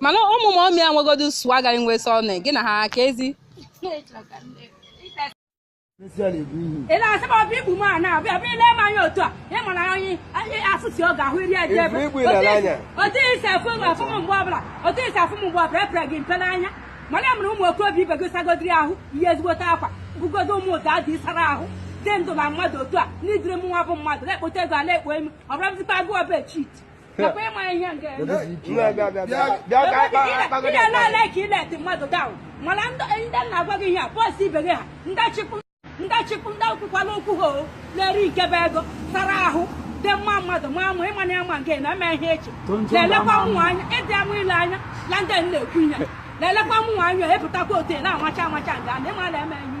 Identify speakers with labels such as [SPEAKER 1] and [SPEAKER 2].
[SPEAKER 1] mana ụmụ ma
[SPEAKER 2] ọmịa nwegodu swagger nwe sọne gị na ha ka
[SPEAKER 1] ezi ị na-asị m ọ bụ igbu m a na-abịa bịa ile m anya otu a ịma na onye onye afụsi ọ ga-ahụ iri eje ebe Igbu ile ala anya. otu i si afụ m afụ m mgbe ọbụla otu i si afụ m mgbe ọbụla epere gị mpe n'anya mana ya mere ụmụ okorobịa ibe gị sagodiri ahụ yie ezigbote akwa bugodo ụmụ ụda ndị sara ahụ dị ndụ na mmadụ otu a n'ụdịrị mụnwa bụ mmadụ na-ekpote ego ala ekpo emi ọ bụrụ bụzikwa agụọ be chit nakwa ịma ihe nke ya. Bịa, bịa, bịa, bịa. Bịa ka anyị kpa- akpa gị Ị na-ele na-eme. ole ka ị na-eleti mmadụ down mana ndị ndị na-agwa gị ihe a boys ibe gị ha ndị chịpụ ndị chịpụ ndị kwukwala okwu ha o na-eri nke bụ ego sara ahụ dị mma mmadụ ma ama ịma na ya ma nke na-eme ihe echi na-elekwa mụnwa anya ịdị ama ile anya na ndị na-ekwu ihe na-elekwa mụnwa anya epụtakwa otu ị na-amacha amacha nga na ịma na eme ihe